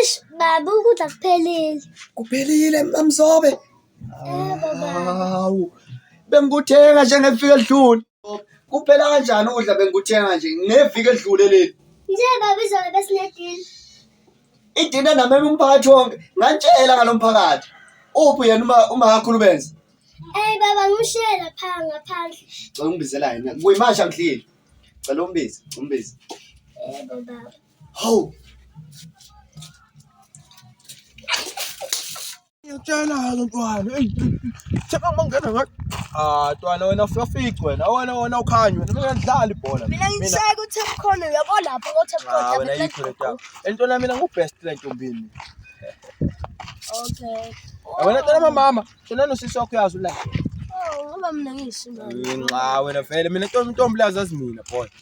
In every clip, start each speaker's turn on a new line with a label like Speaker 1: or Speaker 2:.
Speaker 1: Ish
Speaker 2: baba ukudla kuphelile. Kuphelile
Speaker 1: mamzobe. Yebo baba.
Speaker 2: Hawu.
Speaker 1: Bengikuthenga nje ngeviki elidlule. Kuphela kanjani ukudla bengikuthenga nje ngeviki elidlule leli? Nje baba izolo
Speaker 2: besinedili.
Speaker 1: Idina namema umphakathi wonke. Ngantshela ngalomphakathi. Uphi yena uma uma kakhulu benza? Ey baba
Speaker 2: ngishiye lapha ngaphandle. Cela ungibizela
Speaker 1: yena. Kuyimanje angidlile. Cela umbize, umbize. Yebo baba.
Speaker 3: Hawu. Ngiyatshela-ke ntwana. Eyi, theka uma ngingena ngathi. Ah, ntwana wena uyafica wena. Awona wona ukhanya wena. Mina ngidlala ibhola. mina ngiseka utap
Speaker 2: khona uyabo lapho kotap Ah, khona wena yikho
Speaker 3: le ntwana. Entwana mina ngu-best le ntombini.
Speaker 2: okay Ah, Wena ntwana mamama,
Speaker 3: shona nosisi wakho uyazi ula. oh ngoba
Speaker 2: mina ngiyishimba Nxa wena
Speaker 3: vele mina ntombi ntombi lazi azimina boy.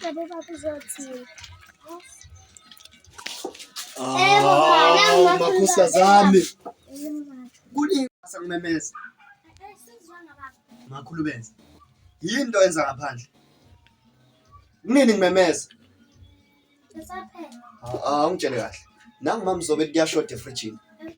Speaker 2: Tabii bak bize atayım.
Speaker 1: Ee, baba, makusa zami. Kuli sasa kumemeza. Makhulu benza. Yini into yenza ngaphandle? Kunini ngimemeza? Ngisaphela. Ah, ungitshele kahle. Nangu mama uzobe kuyashoda efrijini.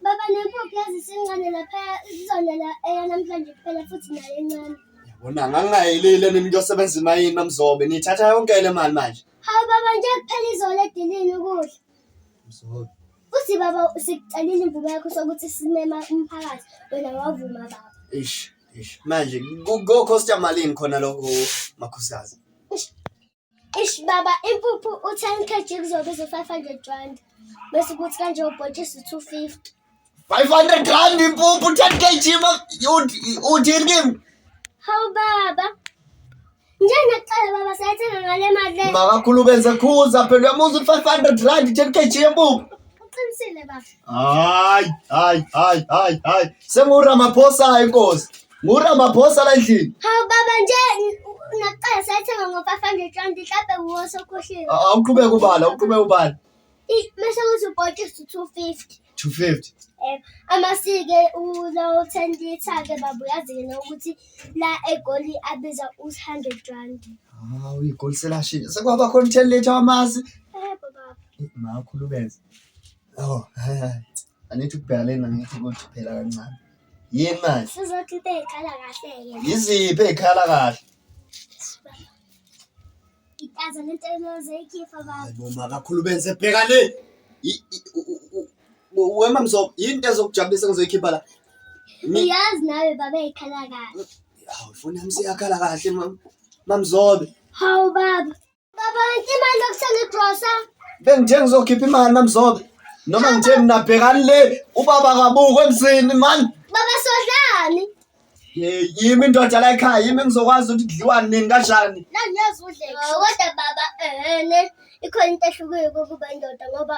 Speaker 1: Baba nempuphu
Speaker 2: yazi sincane laphaya izonela eya namhlanje kuphela futhi nayo encane. Yabona ngangingayelile
Speaker 1: mina kuyosebenza imayini mamzobe. Nithatha yonke le mali manje. Hawu baba nje kuphela
Speaker 2: izolo edilini ukudla. Mzobe.
Speaker 1: Futhi baba
Speaker 2: sikucelile imvume yakho sokuthi simema umphakathi wena wavuma baba. Ish, ish.
Speaker 1: Manje kokhosta malini khona lokho makhosikazi?
Speaker 2: Ish baba impuphu u-10 kg kuzobiza u-500 rand bese kuthi kanje ubhotshisi 250
Speaker 1: 500 rand impuphu 10 kg uthini kimi hawu
Speaker 2: baba njengakuqala baba sayathenga ngale mali le makakhulu benze khuza
Speaker 1: phela uyamuza u-500 rand 10 kg yempuphu uqinisile baba hayi
Speaker 2: hayi hayi
Speaker 1: hayi hayi senguramaphosaya inkosi NguRamaphosa la endlini. Hawu baba nje
Speaker 2: nakuqala sayithenga ngo-500 rand mhlampe wuwo sokhohliwe. A- Awuqhubeke ubala,
Speaker 1: uqhubeke ubala. I- Mase
Speaker 2: kuthi ubhotshisi 250. 250. Eh,
Speaker 1: amasike
Speaker 2: ulawo 10 liter ke baba uyazi ke nokuthi la egoli abiza u-100 rand. Ah, uyigoli
Speaker 1: selashini. Sekwaba khona 10 liter wamasi. Eh baba.
Speaker 2: Makhulumeza.
Speaker 1: Oh, hayi hayi. Angithi ukubheka lena ngithi ukuthi phela kancane. yini manje sizothi
Speaker 2: into ey'khala kahle-ke yiziphi ey'khala kahle
Speaker 1: itaza
Speaker 2: lento elozeyikhipha baba boma kakhulu benze
Speaker 1: bheka le I- i- u- u- u- u- wema mzo yini into ezokujabulisa engizoyikhipha la Mi- uyazi
Speaker 2: nawe baba ey'khala kahle hawu foni yami
Speaker 1: seyakhala kahle mam- mamzobe hawu baba
Speaker 2: Baba,
Speaker 1: ngicela
Speaker 2: imali yokuthenga igrosa.
Speaker 1: Bengithe
Speaker 2: ngizokhipha imali
Speaker 1: mamzobe. Noma ngithe mina bhekani le ubaba kabuko emzini man. Baba sodlani?
Speaker 2: Hey,
Speaker 1: yimi indoda la ekhaya, yimi ngizokwazi ukuthi kudliwa nini kanjani. La ngiyazudla.
Speaker 2: Kodwa baba ehene ikhona into ehluke ukuba indoda ngoba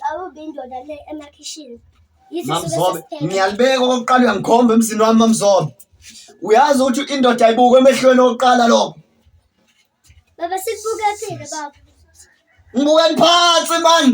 Speaker 2: awubi indoda le emakhishini
Speaker 1: mamzobe ngiyalibeka okokuqala uyangikhomba emzini wami mamzobe uyazi ukuthi indoda ayibuke emehlweni okuqala lokho
Speaker 2: baba sikubuke phile baba ngibukeni
Speaker 1: phansi mani